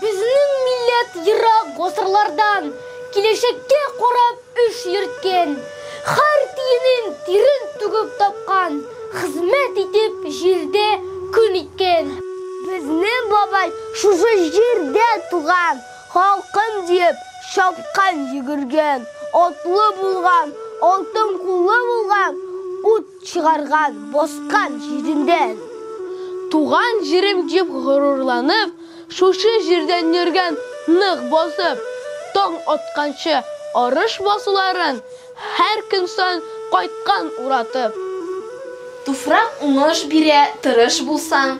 Безнең милләт ерак гасырлардан киләчәккә карап эш йөрткән, хәр тиенен тирен түгеп тапкан, хезмәт итеп җирдә көн иткән. Безнең бабай шушы җирдә туган. Халкым диеп чапкан, йөгергән, атлы булган, алтын куллы булган, ут чыгарган, баскан җиреннән. Туган җирем дип горурланып, шушы җирдән йөргән, нык басып. Таң атканчы арыш басуларын, һәр көн саен кайткан уратып. Туфрак уңыш бирә, тырыш булсаң,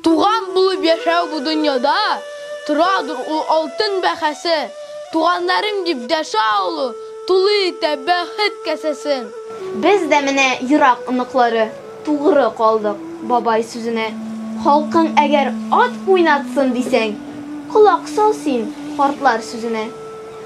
Туган булып яшәү бу дөньяда, Торадыр ул алтын бәһасе. Туганнарым дип дәшә алу, Тулы итә бәхет касәсен. Без дә менә ерак оныклары, Тугры калдык бабай сүзенә. Халкың әгәр ат уйнатсын дисәң, Колак сал син картлар сүзенә.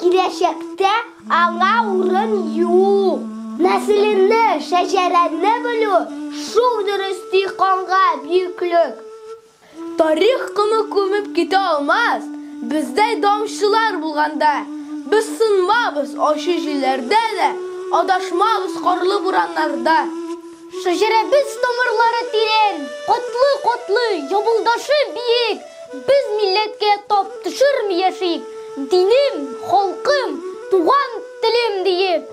Киләчәктә аңа урын юк. Нәселеңне, шәҗәрәңне белү, шул дөрес, ди канга бөеклек. Тарих комы күмеп китә алмас, бездәй даңчылар булганда. Без сынмабыз ачы җилләрдә дә, адашмабыз карлы бураннарда. Шәҗәрәбез тамырлары тирән, катлы-катлы, ябылдашы биек, без милләткә тап төшерми яшик, динем, халкым, туган телем диеп.